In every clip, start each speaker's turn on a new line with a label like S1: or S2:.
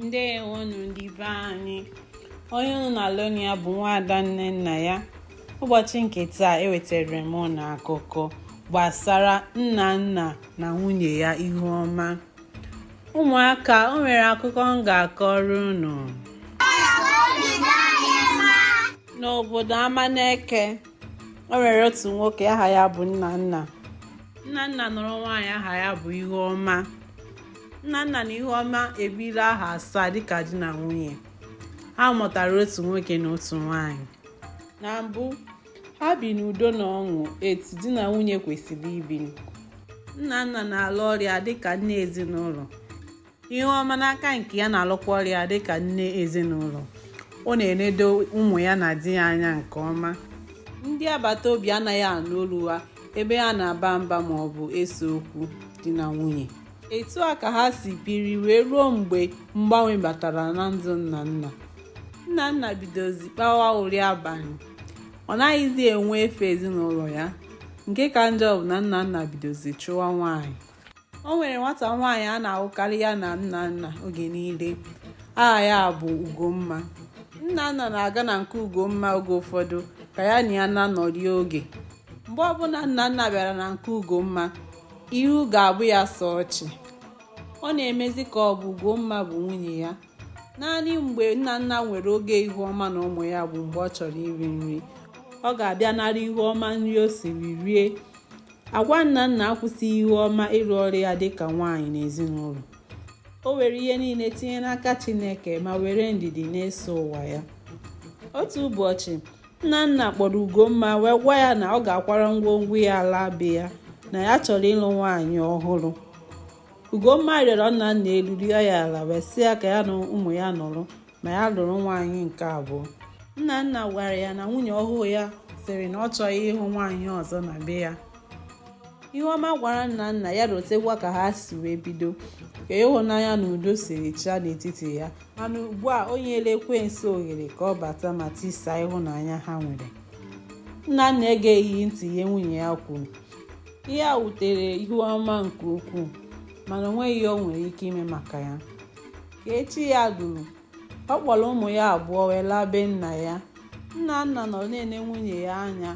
S1: ndewonụ ndị be anyị onye unu na-anụ olu ya bụ nwaada Nnennaya ụbọchị nke taa ewetara m unu akụkọ gbasara Nnanna na nwunye ya Ihuọma ụmụaka o nwere akụkọ m ga-akọrọ unu n'obodo Amaneke o nwere otu nwoke aha ya bụ Nnanna Nnanna nụrụ nwaanyị aha ya bụ Ihuọma Nnanna na Ihuọma ebiri ahọ asaa dịka di na nwunye ha mụtara otu nwoke na otu nwanyị na mbụ ha bi n'udo na ọṅụ etu di na nwunye kwesịrị ibi Nnanna na-alụ ọrụ ya dịka nna ezinụlọ Ihuọma n'aka nke ya na-alụkwa ọrụ ya dịka nne ezinụlọ ọ na-enedo ụmụ ya na di ya anya nke ọma ndị agbata obi anaghị anụ olu ha ebe ha na-aba mba ma ọ bụ ese okwu di na nwunye etu a ka ha si biri wee ruo mgbe mgbanwe batara na ndụ Nnanna Nnanna bidozi kpawa uri abalị ọ naghịzi enwe efe ezinụlọ ya nke ka njọ bụ na Nnanna bidozi chụwa nwaanyị o nwere nwata nwaanyị a na-ahụkarị ya na Nnanna oge niile aha ya bụ Ugomma Nnanna na-aga na nke Ugomma oge ụfọdụ ka ya na ya na-anọrị oge mgbe ọbụla Nnanna bịara na nke Ugomma ihu ga-abụ ya sọ ọchị ọ na-emezi ka ọ bụ Ugomma bụ nwunye ya naanị mgbe Nnanna nwere oge Ihuọma na ụmụ ya bụ mgbe ọ chọrọ iri nri ọ ga-abịa nara Ihuọma nri o siri rie agwa Nnanna akwụsịghị Ihuọma ịrụ ọrụ ya dịka nwaanyị n'ezinụlọ o were ihe niile tinye n'aka Chineke ma were ndidi na-eso ụwa ya otu ụbọchị Nnanna kpọrọ Ugomma wee gwa ya na ọ ga-akwara ngwongwo ya laa be ya na ya chọrọ ịlụ nwaanyị ọhụrụ Ugomma rịọrọ Nnanna elu rịọ ya ala wee sị ya ka ya na ụmụ ya nọrọ ma ya lụrụ nwaanyị nke abụọ Nnanna gwara ya na nwunye ọhụụ ya sịrị na ọ chọghị ịhụ nwaanyị ọzọ na be ya Ihuọma gwara Nnanna ya rotekwa ka ha si wee bido ka ịhụnanya na udo siri chịa n'etiti ya mana ugbu a o nyela ekwensu ohere ka ọ bata ma tisaa ịhụnanya ha nwere Nnanna egeghị ntị ihe nwunye ya kwuru ihe a wutere Ihuọma nke ukwuu mana o nweghị ihe o nwere ike ime maka ya ka echi ya duru ọ kpọrọ ụmụ ya abụọ wee laa be nna ya Nnanna nọ na-ene nwunye ya anya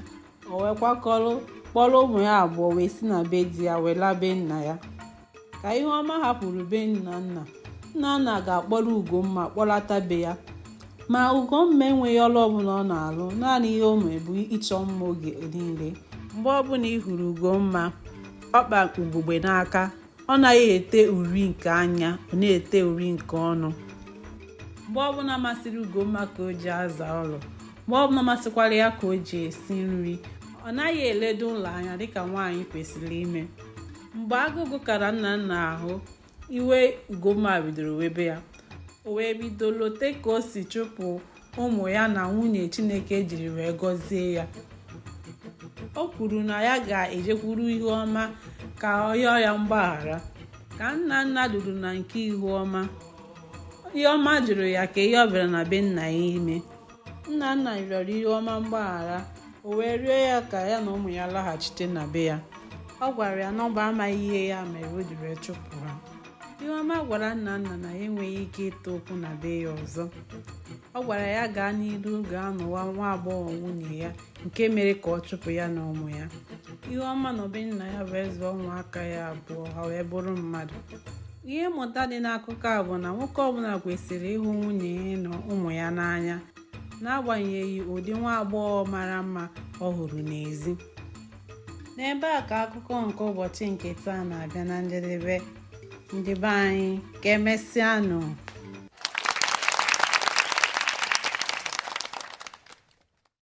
S1: o wee kwakọrọ kpọrọ ụmụ ya abụọ wee si na be di ya wee laa be nna ya ka ihuọma hapụrụ be nnanna nnanna gaa kpọrọ ugomma kpọlata be ya ma ugomma enweghị ọrụ ọbụla ọ na-alụ naanị ihe o mere bụ ịchọ mma oge niile mgbe ọbụla ị hụrụ ugomma ọ kpa ugogbe n'aka ọ naghị ete uri nke anya ọ na-ete uri nke ọnụ mgbe ọbụla masịrị ugomma ka o ji aza ụlọ mgbe ọbụla masịkwara ya ka o ji esi nri ọ naghị eledo ụlọ anya dịka nwaanyị kwesịrị ime mgbe agụụ gụkara nnanna ahụ iwe ugomma bidoro webe ya o wee bido lote ka o si chụpụ ụmụ ya na nwunye chineke jiri wee gọzie ya o kwuru na ya ga-ejekwuru ihuọma ka ọ yọọ ya mgbaghara ka nnanna duru na nke ihuọma ihuọma jụrụ ya ka ihe ọ bịara na be nna ya ime nnanna rịọrọ ihuọma mgbaghara o wee rịọ ya ka ya na ụmụ ya laghachite na be ya ọ gwara ya na ọ bụ amaghị ihe ya mere o jiri chụpụ ha ihuọma gwara nnanna na ya enweghị ike ịtụ ụkwụ na be ya ọzọ ọ gwara ya gaa n'iru gaa nụwa nwa agbọghọ nwunye ya nke mere ka ọ chụpụ ya na ụmụ ya ihuọma nọ be nna ya wee zụọ ụmụaka ya abụọ ha wee bụrụ mmadụ ihe mmụta dị n'akụkọ a bụ na nwoke ọbụla kwesịrị ịhụ nwunye ya na ụmụ ya n'anya n'agbanyeghị ụdị nwa agbọghọ mara mma ọ hụrụ n'ezi n'ebe a ka akụkọ nke ụbọchị nke taa na-abịa na njedebe ndị be anyị ka emesịanụ